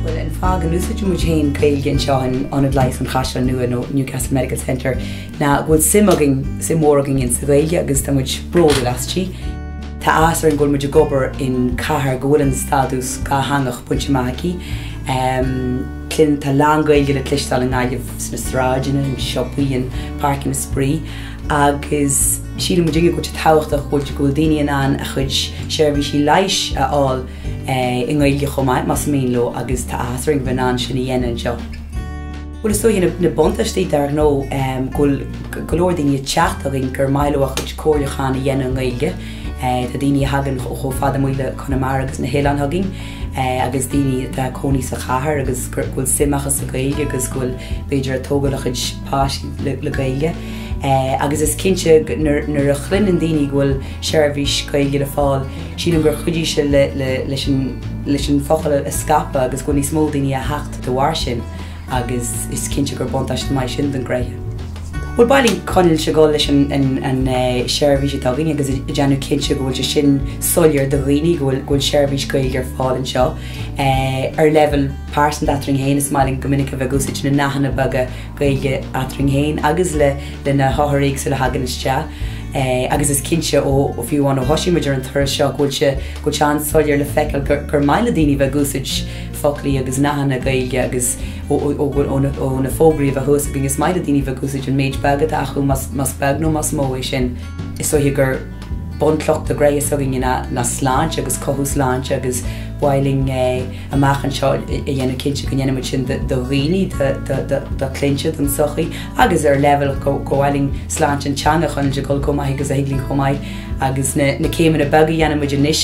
Bhuel, an fáth go n-úsáideann muid féin Gaeilge anseo in Ionad Leighis an Chaisleáin Nua, nó Newcastle Medical Centre, ná go bhfuil suim againn, suim mhór againn insa Ghaeilge agus tá muid bródúil as sí. Tá áthas orainn go bhfuil muid ag obair in cathair go bhfuil an stádas dátheangach bainte amach aici. Tá a lán Gaeilge le cloisteáil i nGaillimh, sna sráideanna, i siopaí, in páirceanna spraoi agus sílim go dtuigeann muid an tábhacht go bhfuil go bhfuil daoine in ann a chuid seirbhísí leighis a fháil i nGaeilge chomh maith más mian leo agus tá áthas orainn a bheith in ann sin a dhéanamh anseo. Bhuel is dóigh na buntáistí dár ngnó go bhfuil go leor daoine ag teacht againn gur maith leo a chuid comhairliúcháin a dhéanamh i nGaeilge. Tá daoine a thagann ó chomh fada amuigh le Conamara agus na hoileáin chugainn. agus daoine atá ag cónaí sa chathair agus go bhfuil suim acu sa Ghaeilge agus go bhfuil b'fhéidir ag tógáil a chuid páistí le Gaeilge. Agus is cinnte nuair a chluineann daoine go bhfuil seirbhís Gaeilge le fáil, sílim gur chuidigh sé leis an focal a scaipeadh agus go bhfuil níos mó daoine a theacht de bharr sin. agus is cinnte gur buntáiste maith sin don ghnó. Bhuel, ba linn coinneáil ag dul leis an seirbhís atá againn agus ag déanamh cinnte go bhfuil sé sin soiléir do dhaoine go bhfuil seirbhís Gaeilge ar fáil anseo. Ar leibheal pearsanta eadrainn féin, is maith linn go minic a bheith ag úsáid na nathanna beaga Gaeilge eadrainn féin agus le na hothair éagsúla a thagann isteach. Agus is cinnte ó, fiú amháin ó thosaigh muid ar an turas seo, go bhfuil sé an-soiléir le feiceáil gur maith le daoine a bheith ag úsáid foclaí agus nathanna Gaeilge agus ó na fógraí a bheith thuas againn is maith le daoine bheith ag úsaid an méid beag atá acu más beag nó más mó é sin. Is dóiche gur bunchloch do ghnó s'againne ná sláinte agus cothú sláinte agus ba mhaith linn amach anseo a dhéanamh cinnte go ndéanaimid sin do dhaoine, do chliaint, don sochaí agus ar leibhéal go mba mhaith linn sláinte an teanga a chur chun cinn chomh maith agus a thig linn chomh maith agus na céimeanna beaga dhéanaimid anois